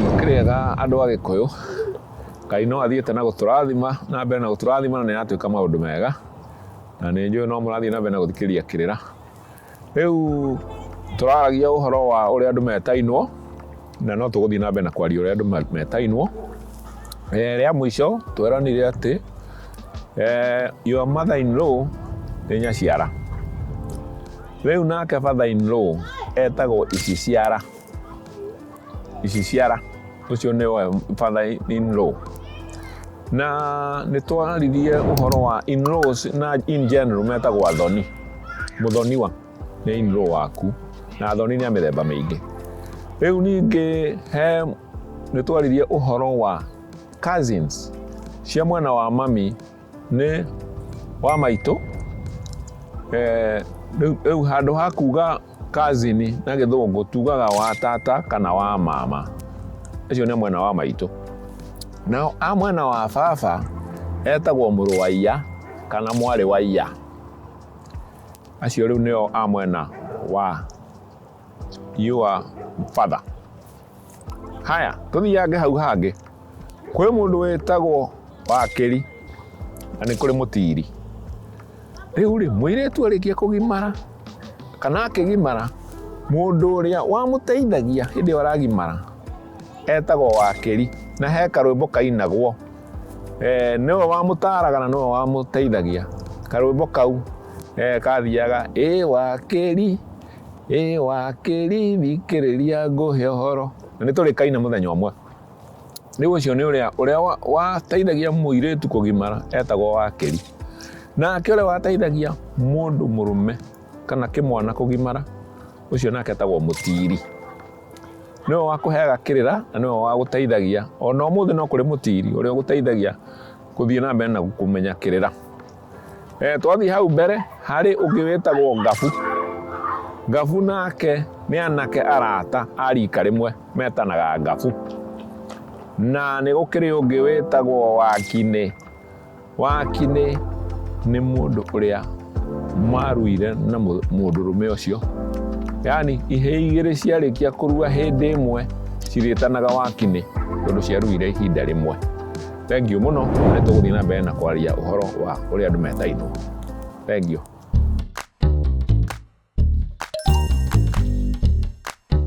Mũkĩrĩega andũ a Gĩkũyũ, Ngai no athiĩte na gũtũrathima na mbere na gũtũrathima na nĩ aratuĩka maũndũ mega, na nĩ njũĩ no mũrathiĩ na mbere na gũthikĩrĩria kĩrĩra. Rĩu tũraragia ũhoro wa ũrĩa andũ metainwo na no tũgũthiĩ na mbere na kwaria ũrĩa andũ me- metainwo Eh, rĩa mũico tweranire atĩ eh, your mother in law nĩ nyaciara rĩu nake father in law etagwo iciciara ici ciara ũcio nĩwe father in law na nĩ twaririe ũhoro wa in laws na in general metagwo athoni mũthoniwa nĩ in law waku na athoni nĩ a mĩthemba mĩingĩ rĩu ningĩ he nĩ twaririe ũhoro wa cousins cia mwena wa mami nĩ wa maitũ eh, rĩu handũ ha kuga kazini na gĩthũngũ tugaga wa tata kana wa mama acio nĩ mwena wa maitũ nao a mwena wa baba etagwo mũrũ wa iya kana mwarĩ wa iya acio rĩu nĩo a mwena wa you are father haya tũthiange hau hangĩ kwĩ mũndũ wĩtagwo wakĩri na nĩ kũrĩ mũtiri rĩu rĩ mwĩirĩtu arĩkia kũgimara kana akĩgimara mũndũ ũrĩa wamũteithagia hĩndĩ ĩyo aragimara etagwo wakĩri na he karwĩmbo kainagwo eh, nĩwe wamũtaraga na nĩwe wamũteithagia karwĩmbo kau eh, kathiaga ĩ wakĩri Ĩ wakĩri thikĩrĩria ngũhe ũhoro. Na nĩ tũrĩ kaina mũthenya ũmwe. Rĩu ũcio nĩ ũrĩa ũrĩa wateithagia mũirĩtu kũgimara etagwo wakĩri. Nake ũrĩa wateithagia mũndũ mũrũme kana kĩmwana kũgimara ũcio nake etagwo mũtiri. Nĩwe wakũheaga kĩrĩra na nĩwe wagũteithagia. Ona ũmũthĩ no kũrĩ mũtiri ũrĩa ũgũteithagia gũthiĩ na mbere na kũmenya kĩrĩra. Eh, twathiĩ hau mbere harĩ ũngĩ wĩtagwo ngabu ngabu nake nĩ anake arata a rika rĩmwe metanaga ngabu na nĩ gũkĩrĩ ũngĩ wĩtagwo wakinĩ wakinĩ nĩ mũndũ ũrĩa maruire na mũndũrũme ũcio yani ihĩ igĩrĩ ciarĩkia kũrua hĩndĩ ĩmwe cirĩtanaga wakinĩ tondũ ciaruire ihinda rĩmwe Thank you muno na nĩ tũgũthiĩ na mbere na kwaria ũhoro wa ũrĩa andũ metaitwo. Thank you.